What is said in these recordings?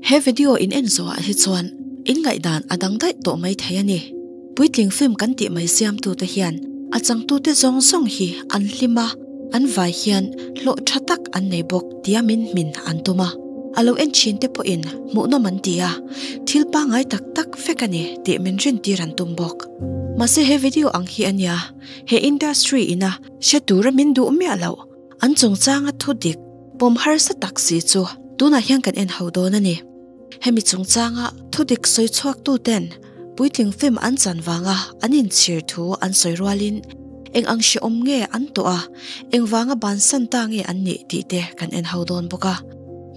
He video in en zawhah hi chuan in ngaihdan a dang daih tawh mai thei a ni. Puitling film kan tih mai siamtu te hian a changtu te zawng zawng hi an hlim a, an vai hian hlawh tha tak an nei bawk tia min hmin an tum a. A lo en thin te pawh in hmuhnawm an ti a, thil pangngai tak tak vek a ni tih min rin tir an tum bawk. Mahse he video ang hi a nia he industry ina hre tura min duh miah loh. An chungchanga thu dik pawm harsa tak si chu tunah hian kan en hauh dawn a ni. Hemi chungchanga thu dik sawi chhuaktu ten puitling film an chan vanga an inchhir thu an sawi rual in eng ang hrehawm nge an tawh a, engvanga bansan ta nge an nih tih te kan en hauh dawn bawk a.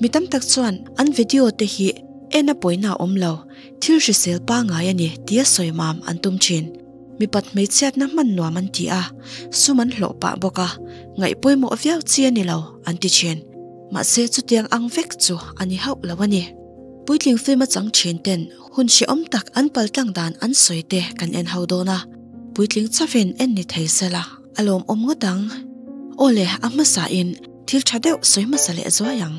Mi tam tak chuan an video te hi en a pawina awm lo, thil hrisel pangai a ni tia sawi mam an tum thin. Mipat hmeichhiatna hman nuam an ti a, sum an hlawh pah bawk a, ngaih pawimawh viau chi a ni lo an ti thin. Mahse chutiang ang vek chu a ni hauh lo a ni. Puitling film achang thin ten hun hrehawm tak an paltlang dan an sawi te kan en ho dawn a, puitling chauhin en ni thei se la, a lawmawm ngawt ang. Aw le, a hmasa in thil tha deuh sawi hmasa leh zuai ang.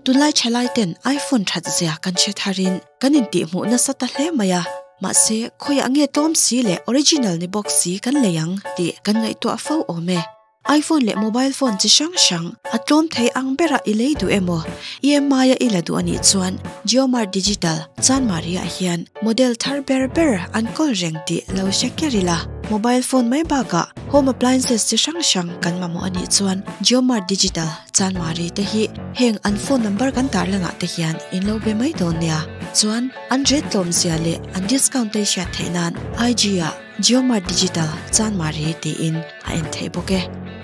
Tunlai thalai ten iPhone that zia kan hre thar in kan intihhmuh nasa ta hle mai a, mahse khawiah nge tlawm si leh original ni bawk si kan lei ang tih kan ngaihtuah fo awm e. Iphone leh mobile phone chi hrang hrang a tlawm thei ang ber a i lei duh emaw? EMI a i la duh a nih chuan JioMart Digital chanmari ah hian model thar ber ber an kawl reng tih lo hre ker ila, mobile phone mai bakah home appliances chi hrang hrang kan mamawh a nih chuan JioMart Digital Chuan Mari te hi heng an phone number kan tar langah te hian in lo be mai dawn nia. Chuan an ret tlawm zia leh an discount te hriat theih nan IG a JioMart Digital Chuan Mari tiin a en thei bawk e.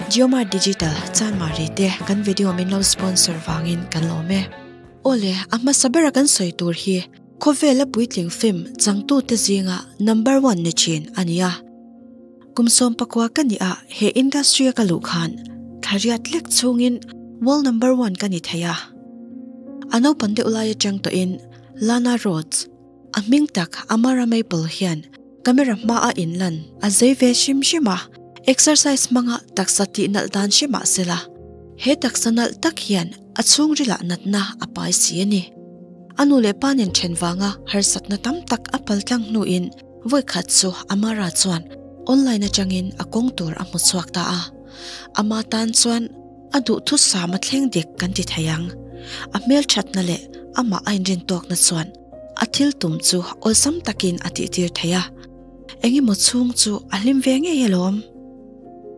JioMart Digital Chuan Mari te kan video min lo sponsor vangin kan lawm e. Awle, a hmasa bera kan sawi tur hi khawvela puitling film changtute zinga number one ni thin a nia. Kum sawm pakua ka ni a, he industry a ka luh khan thlaria tlek chhungin world number one ka ni thei a. A naupan deuh lai atang tawhin Lana Rhoades, a hming tak Amara Maple hian camera hmaa in lan a zei ve hrim hrim a, exercise hmanga taksa tih nalh dan hre mah sela, he taksa nalh tak hian a chhungrilah natna a pai si a ni. A nu leh pa nen then vanga harsatna tam tak a paltlang hnuin, Vawi khat chu Amara chuan online atangin a kawng tur a hmu chhuak ta a. Ama tan chuan a duhthusam a thleng dik kan ti thei ang. A hmelthatna leh amah a inrintawkna chuan a thil tum chu awlsam takin a tihtir thei a, Eng emaw chhung chu a hlim ve ngei alawm.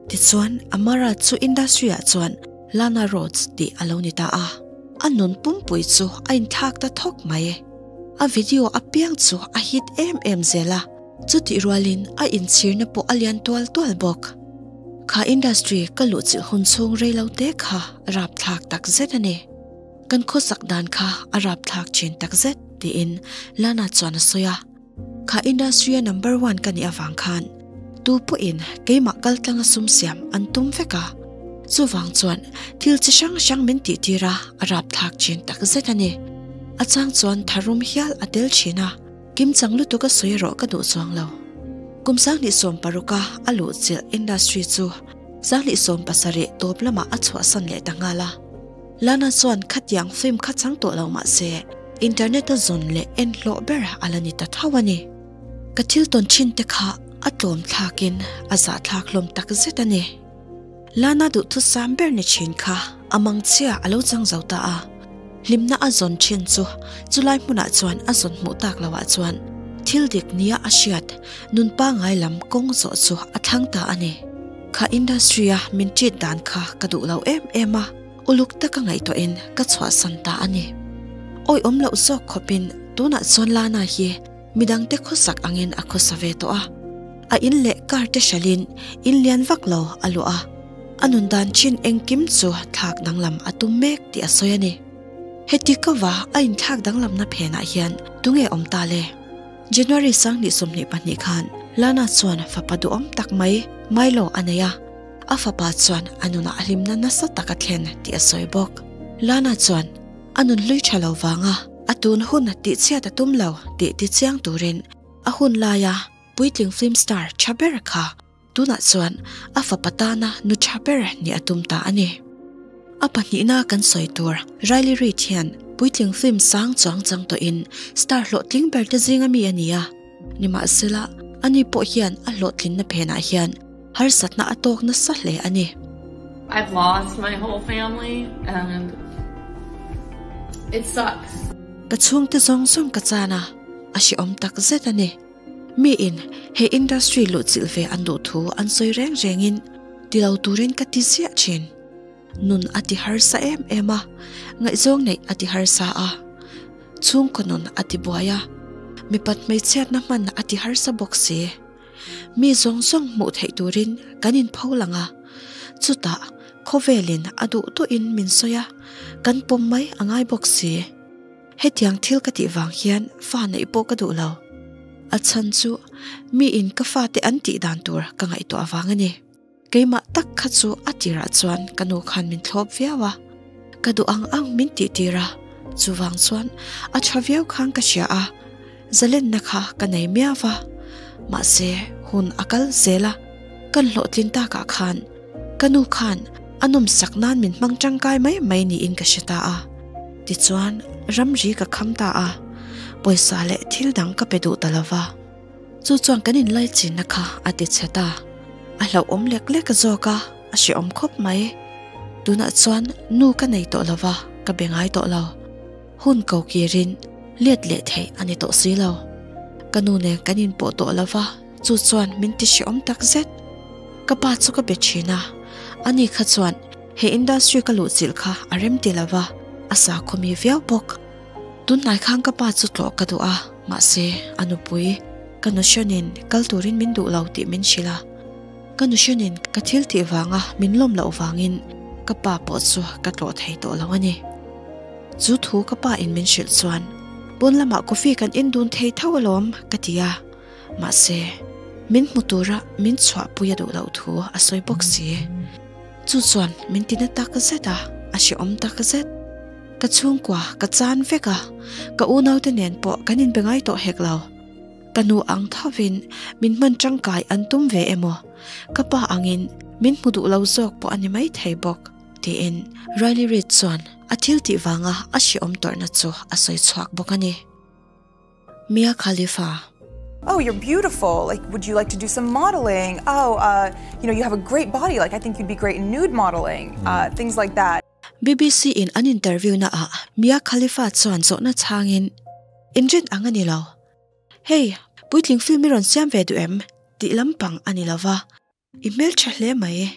Tichuan, Amara chu industry-ah chuan. Lana Rhoades tih a lo ni ta a, a nun pumpui chu a inthlak ta thawk mai e. A video apiang chu a hit em em zel a, chutihrualin a inchhirna pawh a lian tual tual bawk. Kha industry ka luhchilh hun chhung reilo te kha rapthlak takzet a ni. Kan khawsak dan kha a rapthlak thin takzet, tiin Lana chuan a sawi a. Kha industry-a number one ka nih avang khan tu pawhin keimah kaltlanga sum siam an tum vek a, chuvang chuan thil chi hrang hrang min tihtir a a rapthlak thin takzet a ni. A chang chuan tharum hial a tel thin a, kim chang lutuk a sawi erawh ka duh chuang lo. Kum sanghnih sawm paruka a luh chilh industry chu sanghnih sawm pasarih tawp lamah a chhuahsan leh ta nghal a. Lana chuan khatiang film kha chang tawh lo mah se, internet a zawn leh en hlawh berah a la ni ta thauh a ni. Ka thil tawn thin te kha a tlawm thlak in a zah thlak hlawm tak zet a ni. Lana duhthusam ber ni thin kha a mang chiah a lo chang zo ta a, hlimna a zawn thin chu chu lai hmunah chuan a zawn hmuh tak lo ah chuan thil dik nia a hriat nun pangai lam kawng zawh chu a thlang ta a ni. Kha industry a min treat dan kha ka duh lo em em a, uluk taka ngaihtuah in ka chhuahsan ta a ni. Awih awm loh zawk khawp in tunah chuan Lana hi midang te khawsak ang in a khawsa ve tawh a, a in leh car te hralh in in lian vak lo a luah a, a nun dan chin engkim chu thlak danglam a tum mek tih a sawi a ni. Heti kova a in thlak danglamna phenah hian tunge awm ta le? January sangni sawmhnih pahnih khan Lana chuan fapa duhawm tak mai Milo a nei a, a fapa chuan a nunah a hlimna nasa tak a thlen tih a sawi bawk. Lana chuan a nun hlui tha lo vanga a tun hun tihchhiat a tum lo tih ti chiang turin a hun laia puitling film star tha ber kha Tunah chuan a fapa tana nu tha ber nih a tum ta a ni. A pahnihna kan sawi tur Riley Reid hian puitling film sang chuang chang tawhin star hlawhtling berte zinga mi a ni a. Nimahsela, a ni pawh hian a hlawhtlinna phenah hian harsa hna a tawk nasa hle a ni. I've lost my whole family and it sucks. Ka chhungte zawng zawng ka chan a, a hreawm takzet a ni. Mi in he industry luhchilh ve an duh thu an sawi reng reng in ti lo turin ka ti ziah thin. Nun a ti harsa em em a, ngaihzawng neih a ti harsa a, chhungkaw nun a ti buai a, mipat hmeichhiatna hman a ti harsa bawk si. Mi zawng zawng hmuh theih turin kan in pho lang a, chutah khawvelin a duh duh in min sawi a, kan pawm mai a ngai bawk si. Hetiang thil ka tih vang hian fa neih pawh ka duh lo. A chhan chu mi in ka fa te an tih dan tur ka ngaihtuah avang a ni. Keimah tak kha chu a tirah chuan ka nu khan min thlawp viau a, ka duh ang ang min tihtir a, chuvang chuan a tha viau khan ka hria a. Zaletna kha ka nei miau a, mahse hun a kal zel a, ka hlawhtlin tak ah khan ka nu khan a nawm sak nan min hmang tangkai mai mai niin ka hre ta a, tichuan ramri ka kham ta a, pawisa leh thil dang ka pe duh ta lo va. Chu chuan kan inlaichinna kha a ti chhe ta, a hlauhawm lek lek zawk a, a hreawm khawp mai, tunah chuan nu ka nei tawh lo va, ka be ngai tawh lo. Hun ko kirin let leh theih a ni tawh si lo. Ka nu nen kan inpoh tawh lo va, chu chuan min ti hriawm tak zet. Ka pa chu ka be thin a, a ni kha chuan he industry ka luh chilh kha a rem ti lo va, a sa khawmi viau bawk. Tun hnai khan ka pa chu tlawh ka duh a, mahse a nupui ka nu hrenin kal turin min duh lo tih min hrilh a. Ka nu hrianin ka thil tih vanga min lawm loh vangin ka pa pawh chu ka tlawh thei tawh lo a ni. Chu thu ka pa in min hrilh chuan pawn lamah coffee kan in dun thei tho alawm ka ti a, mahse min hmu tura min chhuah pui a duh loh thu a sawi bawk si. Chu chuan min ti na tak zet a, a hreawm tak zet. Ka chhungkua ka chan vek a, ka unaute nen pawh kan inbe ngai tawh hek lo. Ka nu ang thovin min hman tangkai an tum ve emaw? Ka pa angin min hmu duh lo zawk pawh a ni mai thei bawk, tiin Riley Reid chuan a thil tih vanga a hreawm tawrhna chu a sawi chhuak bawk a ni. Mia Khalifa. Oh, you're beautiful, like, would you like to do some modelling? Oh, uh, you know, you have a great body, like, I think you'd be great in nude modelling, uh, things like that. Bbc in an interview-na ah Mia Khalifa chuan zawhna chhangin, In rin ang a ni lo. Hey, puitling film i rawn siam ve duh em? tih lampang a ni lo va. I hmeltha hle mai e.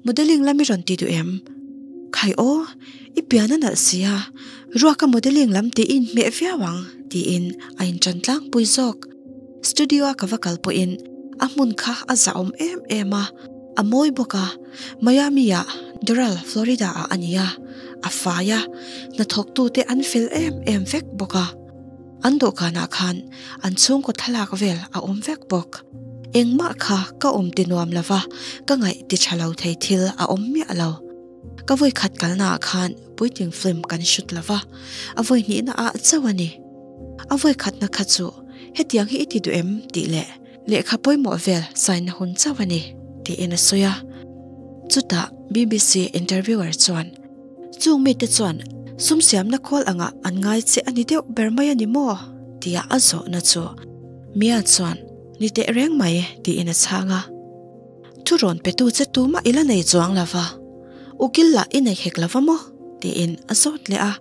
Modeling lam i rawn ti duh em? Khai aw, i pian a nalh si a, ruaka modeling lam tih i inhmeh viau ang, tiin a inṭan tlangpui zawk. Studio a ka va kal pawhin a hmun kha a zahawm em em a, a mawi bawk a. Miami ah, Doral, Florida ah a ni a, a fai a, hnathawktute an fel em em vek bawk a. An dawhkanah khan an chhungkaw thlalak vel a awm vek bawk. Engmah kha ka awm ti nuam lo va, ka ngaih ti tha lo thei thil a awm miah lo. Ka vawi khat kalnaah khan puitling film kan shoot lo va, a vawi hnihna ah chauh a ni. A vawi khatna kha chu, Hetiang hi i ti duh em? tih leh, lehkha pawimawh vel saina hun chauh a ni, tiin a sawi a. Chutah bbc interviewer chuan, Chung mite chuan sumsiamna khawl angah an ngai che a ni deuh ber mai a ni maw? tia a zawhna chu Mia chuan, Ni teh reng mai, tiin a chhang a. Thu rawn petu che tumah i la nei chuang lova, u kil lah i nei hek lova maw? tiin a zawt leh a.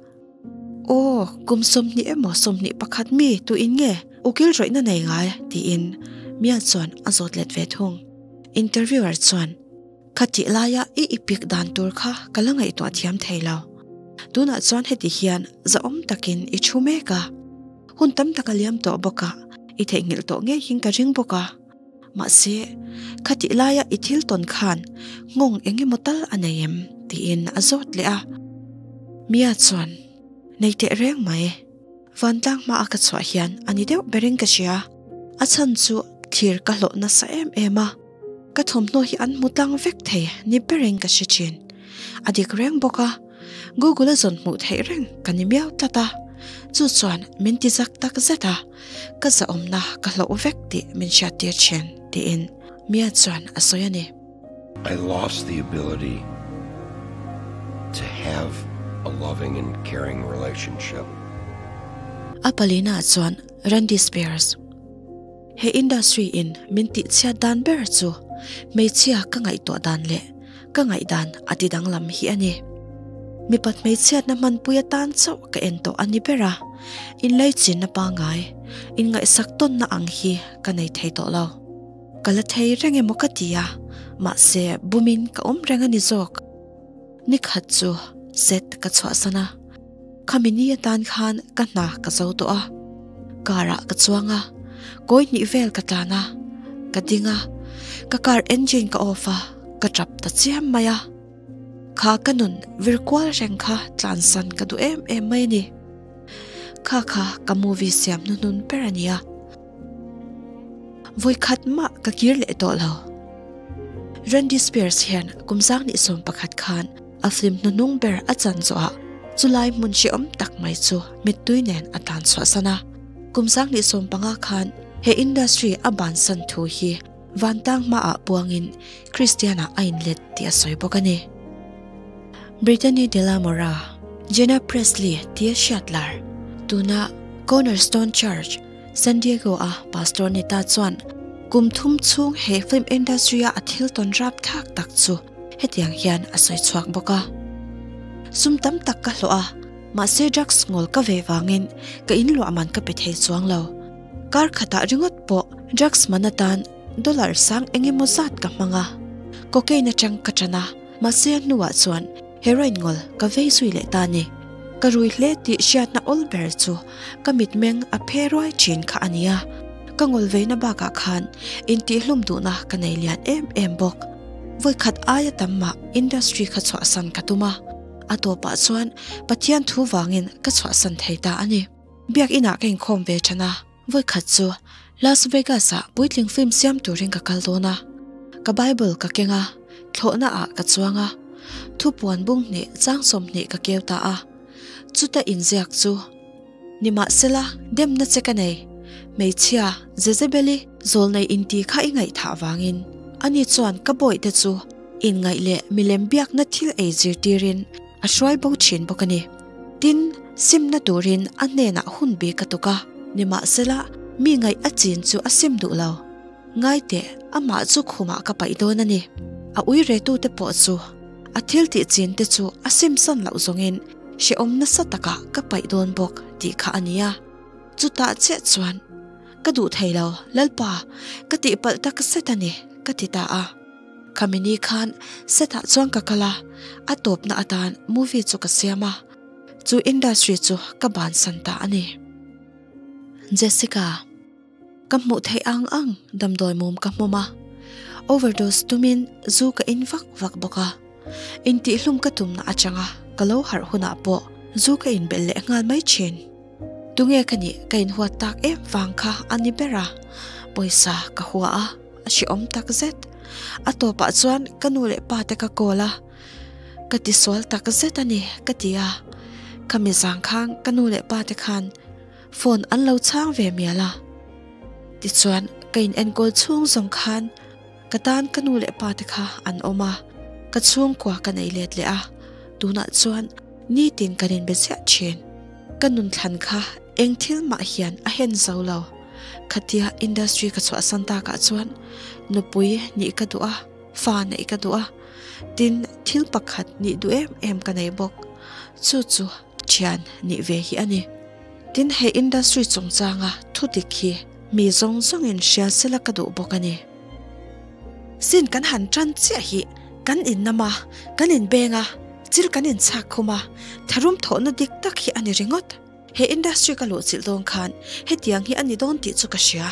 Aw, kum sawmhnih emaw sawmhnih pakhat mi tuin nge u kil rawihna nei ngai? tiin Mia chuan a zawt let ve thung. Interviewer chuan, Kha tih laia i ipik dan tur kha ka la ngaihtuah thiam thei lo. Tunah chuan heti hian zahawm takin i thu mek a, hun tam tak a liam tawh bawk a, i theihnghilh tawh ngeihin ka ring bawk a. Mahse, khatih laia i thil tawn khan nghawng eng emaw tal a nei em? tiin a zawt leh a. Mia chuan, Nei teh reng mai. Vantlang hmaah ka chhuah hian a ni deuh ber in ka hria. A chhan chu thlir ka hlawh nasa em em a. Ka thawmhnaw hi an hmu tlang vek thei ni ber in ka hre thin. A dik reng bawk a. Google-a zawn hmuh theih reng ka ni miau tlat a, chu chuan min ti zak tak zet a, ka zahawmna ka hloh vek tih min hriat tir thin, tiin Mia chuan a sawi a ni. I lost the ability to have a loving and caring relationship. A palina chuan Randy Spears. He industry in min tihchhiat dan ber chu hmeichhia ka ngaihtuah dan leh ka ngaih dan a ti danglam hi a ni. Mipa hmeichhiatna hmanpui atan chauh ka en tawh a ni ber a, inlaichinna pangai inngaihsak tawnna ang hi ka nei thei tawh lo. Ka la thei reng emaw ka ti a, mahse bumin ka awm reng a ni zawk. Nikhat chu set ka chhuahsan a. Khami ni atan khan ka hna ka zo tawh a, car ah ka chuang a, kawi hnih vel ka tlan a, ka ding a, ka car engine ka off a, ka tap ta chiam mai a, kha ka nun vir kual reng kha tlan san ka duh em em mai a ni. Kha kha ka movie siam hnu hnun ber a ni a. Voi khat mah ka kir leh tawh lo. Randy Spears hian kum sang ni sawm pakhat khan a flim hnunung ber a chan zawh a, chulai hmun hriawm tak mai chu mittui nen a tlan chhuahsan a. Kum sang ni sawm panga khan he industry a bansan thu hi vantang hmaah puangin Kristiana a inlet tih a sawi bawk a ni. Brittany de la Mora, Jenna Presley tia hriat lar, tuna Cornerstone Church, San Diego-a Pastor Neta chuan, Kum thum chhung he film industry-a a thil tawn rap thak tak chu hetiang hian a sawi chhuak bawk a, Sum tam tak ka hlawh a, mahse drugs ngawl ka ve vangin ka in luah man ka pe thei chuang lo. Kar khatah ringawt pawh drugs man atan dollar sang eng emaw zat ka hmang a, cocaine atang ka tan a, mahse a hnuah chuan heroin ngawl ka vei zui leh ta a ni. Ka rui hle tih hriatna awlber chu ka mitmeng a phe ruai thin kha a nia, ka ngol veina bakah khan intihhlum duhna ka nei lian em em bawk. Vawikhat aia tam mah industry kha chhuahsan ka tum a, a tawpah chuan Pathian thu vangin ka chhuahsan thei ta a ni. Biak inah ka inkhawm ve than a, vawikhat chu Las Vegas-ah puitling film siam turin ka kal dawn a, ka Bible ka keng a, thlawhnaah ka chuang a, thu puan bung hneh chang sawmhnih ka keu ta a, chuta inziak chu ni mah sela demna che ka nei. Hmeichhia Jezebel-i zawl nei inti kha i ngaih thah vangin ani chuan ka bawihte chu inngaih leh milem biakna thil ei zirtirin a hruai bo thin bawk a ni. Tin, simna turin a hnenah hun bik a tuk a, nimahsela, mi ngaih a chin chu a sim duh lo. Ngaite, amah chu khumah ka paih dawn a ni. A ui retute pawh chu a thil tih chinte chu a simsan loh zawngin hrehawm nasa taka ka paih dawn bawk tih kha a ni a. Chutah chiah chuan, Ka duh thei lo, Lalpa, ka tihpalh tak zet a ni, ka ti ta a. Kamini khan set ah chuan ka kal a, a tawpna atan movie chu ka siam a, chu industry chu ka ban san ta a ni. Jessica, Ka hmuh theih ang ang damdawi mum ka hmawm a, overdose tumin zu ka in vak vak bawk a, intihhlum ka tumna atanga ka lo harh hunah pawh zu ka inbelh leh nghal mai thin. Tunge ka nih ka inhuat tak em vang kha a ni ber a, pawisa ka hua a, a hriawm tak zet. A tawpah chuan ka nu leh pa te ka call a, ka ti sual tak zet a ni ka ti a, ka mizang khang ka nu leh pa te khan phone an lo chhang ve mial a, tichuan ka inenkawl chhung zawng khan, Ka tan ka nu leh pa te kha an awm a, ka chhungkua ka nei let leh a, tunah chuan nitin kan inbe chiah thin. Ka nun thlan kha eng thil mah hian a hen zo lo. Khatia industry ka chhuahsan tak ah chuan nupui nih ka duh a, fa neih ka duh a, tin thil pakhat nih duh em em ka nei bawk. Chu chu. thian nih ve hi a ni. Tin, he industry chungchanga thutik hi mi zawng zawngin hria sela ka duh bawk a ni. Sin kan han tan chiah hi, kan innam a, kan inbeng a, thil kan inchhak khum a, tharum thawhna dik tak hi a ni ringawt. He industry ka luhchilh dawn khan hetiang hi a ni dawn tih chu ka hria.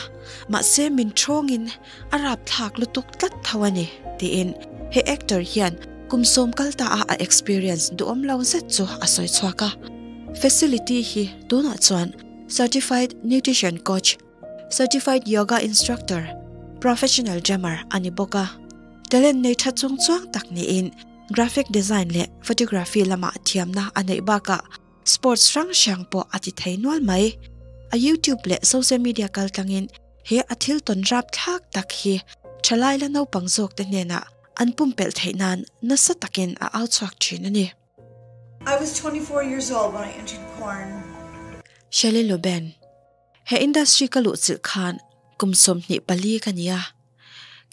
Mahse, min thawngin. A rap thlak lutuk tlat tho a ni, tiin he actor hian kum sawm kal ta a a experience duhawm lo zet chu a sawi chhuak a. Facility hi tunah chuan Certified Nutrition Coach, Certified Yoga Instructor, Professional Drummer a ni bawk a. Talent nei tha chungchuang tak niin Graphic Design leh Photography lamah thiamna a neih bakah, Sports hrang hrang pawh a ti thei nual mai. A YouTube leh social media kaltlangin he a thil tawn rap thlak tak hi thalai la naupang zawkte hnenah an pumpelh theih nan nasa takin a au chhuak thin a ni. I was twenty four years old when I entered porn. Shelley Loben, He industry ka luh chilh khan kum sawmhnih pali ka ni a,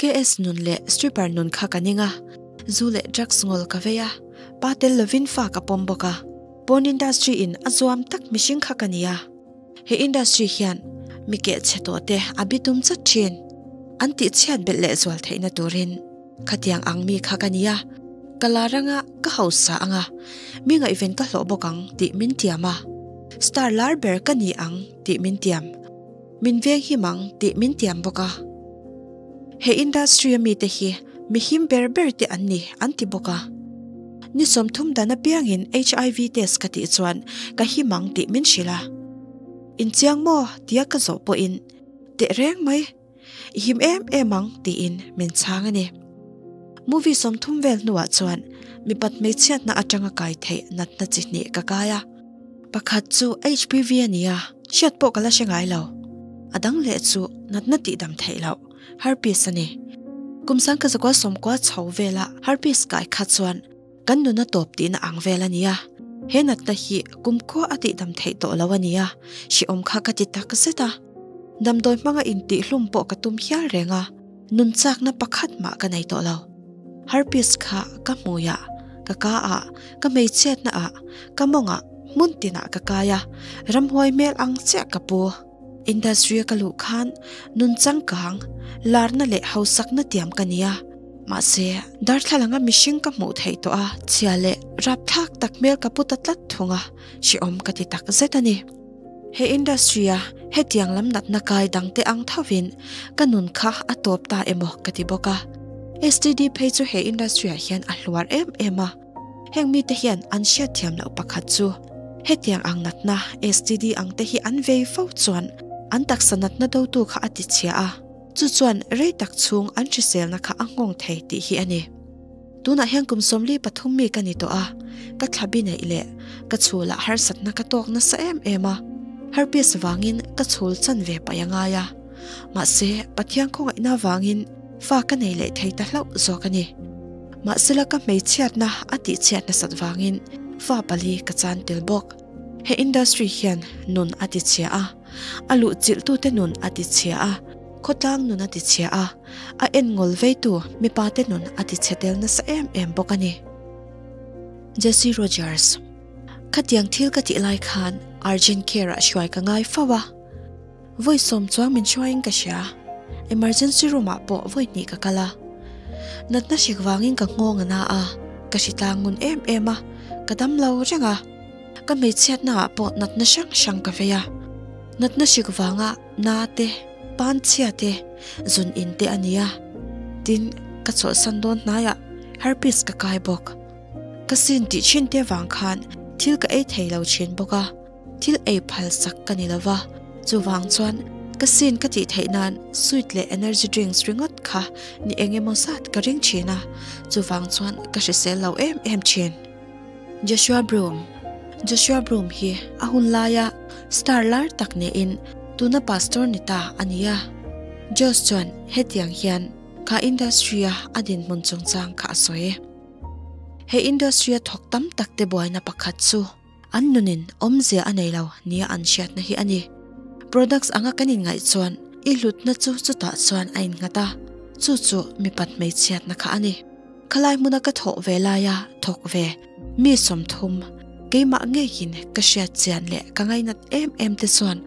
KS nun leh stripper nun kha ka ning a, zu leh drugs ngol ka vei a, pa tel lovin fa ka pawm bawk a, porn industry in a zuam tak mihring kha ka ni a, he industry hian mi keh chhe tawh te a bi tum chat thin, an tih chhiat belh leh zual theihna turin. Khatiang ang mi kha ka nia, ka la ranga ka hausa anga mi ngaihven ka hlawh bawk ang tih min tiam a, star lar ber ka ni ang tih min tiam, min veng him ang tih min tiam bawk a. He industry a mite hi mi him ber ber te an ni an ti bawk a. Ni sawmthum dan apiangin HIV test ka tih chuan ka him ang tih min hrilh a, inchiang maw tia ka zawh pawhin teh reng mai. I him em em ang tiin min chhang a ni. Movie sawmthum vel hnuah chuan mipat hmeichhiatna atanga kai theih natna chi hnih ka kai a. Pakhat chu HPV a ni a, hriat pawh ka la hre ngai lo. A dang leh chu natna tihdam theih loh, herpes a ni. Kum sang ka zakual sawmkua chho vela herpes kai kha chuan, Kan nuna tawp tihna ang vel a nia, he natna hi kum kua a tihdam theih tawh lo a nia, hriawm kha ka ti tak zet a. Damdawi hmanga intihlum pawh ka tum hial reng a, nun chakna pakhat mah ka nei tawh lo. Harpies kha ka hmuiah ka ka a, ka hmeichhia hnaah ka mawngah hmun tinah ka kai a, ramhuai hmel ang chiah ka pu. Industry a ka luh khan nun changkang, larna leh hausakna tiam ka nia. Mahse, darthlalanga mihring ka hmuh theih tawh a, chhia leh rap thlak tak hmel ka pu ta tlat thung a, hriawm ka ti tak zet a ni. He industry-a hetiang lam natna kai dangte ang thovin ka nun kha a tawp ta emaw ka ti bawk a. STD phei chu he industry-ah hian a hluar em em a. Heng mite hian an hriat thiam loh pakhat chu hetiang ang natna STD ang te hi an vei fo chuan an taksa natna dotu kha a tichhia a, chu chuan rei tak chhung an hriselna kha a nghawng thei tih hi a ni. Tunah hian kum sawmli pathum mi ka ni tawh a, ka thlabi neih leh ka chhula harsatna ka tawk nasa em em a, herpes vangin ka chhul chan ve paih a ngai a. Mahse, Pathian khawngaihna vangin fa ka nei leh thei ta hlauh zawk a ni. Mahsela ka hmeichhiatna a tihchhiat nasat vangin fa pali ka chan tel bawk. He industry hian nun a tichhia a, a luhchilhtute nun a tichhia a, khawtlang nun a tichhia a, a en ngol veitu mipate nun a tichhe tel nasa em em bawk a ni. Jesse Rogers, Khatiang thil ka tih lai khan urgent care-ah hruai ka ngai fo a. Vawi sawm chuang min hruaiin ka hria, emergency room ah pawh vawi hnih ka kal a, natna hrek vangin ka nghawng a na a, ka hri tlang ngun em em a, ka dam lo reng a, ka hmeichhiatna ah pawh natna hrang hrang ka vei a, natna hrek vanga na te, pan chhia te, zun in te a ni a, tin ka chawlhsan dawn hnai ah herpes ka kai bawk, ka sin tih thin te vang khan thil ka ei thei lo thin bawk a. Thil ei phal sak ka ni lo va, chuvang chuan ka sin ka tih theih nan sweet leh energy drinks ringawt kha ni eng emaw zat ka ring thin a, chuvang chuan ka hrisel lo em em thin. Joshua Broom Joshua Broom hi a hun laia star lar tak niin tuna pastor ni ta a ni a. Josh chuan hetiang hian kha industry-a a dinhmun chungchang kha a sawi. He industry-a thawk tam takte buaina pakhat chu. An nunin awmzia a nei lo nia an hriatna hi a ni. Products anga kan inngaih chuan i hlutna chu chutah chuan a innghat a, chu chu mi pat hmeichhiatna kha a ni. Khalai hmuna ka thawh ve laia thawk ve, mi sawmthum, keimah ngeiin ka hriat chian leh ka ngainat em em te chuan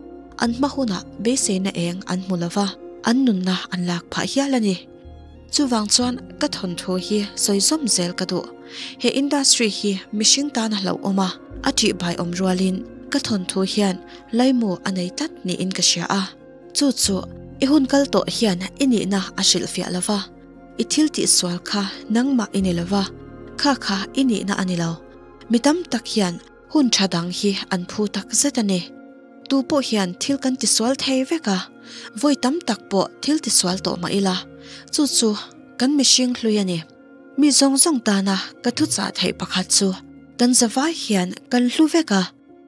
an hma hunah beiseina eng an hmu lova an nunna an lak phah hial a ni. Chuvang chuan ka thawnthu hi sawi zawm zel ka duh. He industry hi mihring tan a hlauhawm a, a tih baiawm rualin ka thawnthu hian laimu a nei tlat niin ka hria a. Chu chu i hun kal tawh hian i nihna a hrilhfiah lo va, i thil tihsual kha nangmah i ni lo va, kha kha i nihna a ni lo. Mi tam tak hian Hun tha dang hi an phu tak zet a ni. Tu pawh hian thil kan ti sual thei vek a, vawi tam tak pawh thil ti sual tawh mah ila, chu chu kan mihring hlui a ni. Mi zawng zawng tana ka thuchah theih pakhat chu kan zavai hian kan hlu vek a,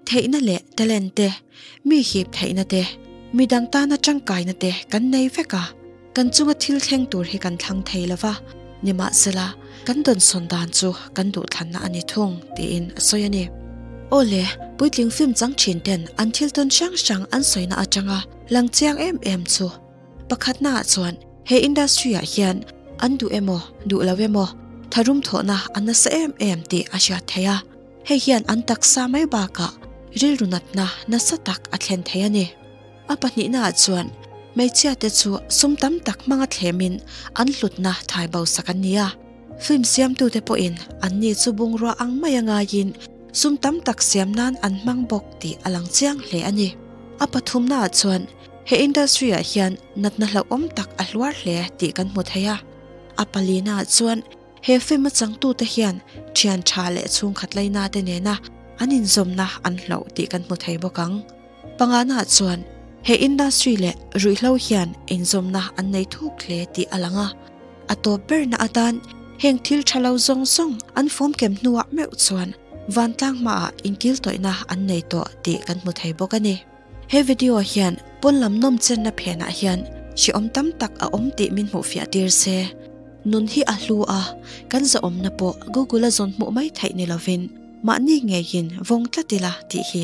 theihna leh talent te, mi hip theihna te, midang tana tangkaina te kan nei vek a. Kan chunga thil thleng tur hi kan thlang thei lo va, nimahzela kan dawnsawn dan chu kan duhthlanna a ni thung, tiin a sawi a ni. Aw le, puitling fimchang thin ten an thil tawn hrang hrang an sawina atanga lang chiang em em chu. Pakhatnaah chuan he industry-ah hian an duh emaw, duh lo emaw, tharum thawhna a nasa em em tih a hriat theih a, hei hian an taksa mai bakah rilru natna nasa tak a thlen thei a ni. A pahnihna ah chuan hmeichhia te chu sum tam tak hmanga thlem in an hlutna thai bosak an ni a. Film siamtu te pawh in an ni chu bungrua ang mai a ngai in sum tam tak siam nan an hmang bawk tih a lang chiang hle a ni. A pathumna ah chuan he industry ah hian natna hlauhawm tak a hluar hle tih kan hmu thei a. A palina ah chuan he film a changtu te hian thian tha leh chhungkhat laina te nena an inzawmna an hlauh tih kan hmu thei bawk ang. Panganah chuan he industry leh ruihhlo hian inzawmna an nei thuk hle tih a lang a, a tawp berna atan heng thil tha lo zawng zawng an fawm kem hnuah meuh chuan vantlang hmaah inkiltawihna an nei tawh tih kan hmu thei bawk a ni. He video hian pawn lam nawmchenna phenah hian hriawm tam tak a awm tih min hmuh fiah tir se, nun hi a hlu a, kan zahawmna pawh Google-a zawn hmuh mai theih ni lovin mahni ngeiin vawng tlat ila tih hi,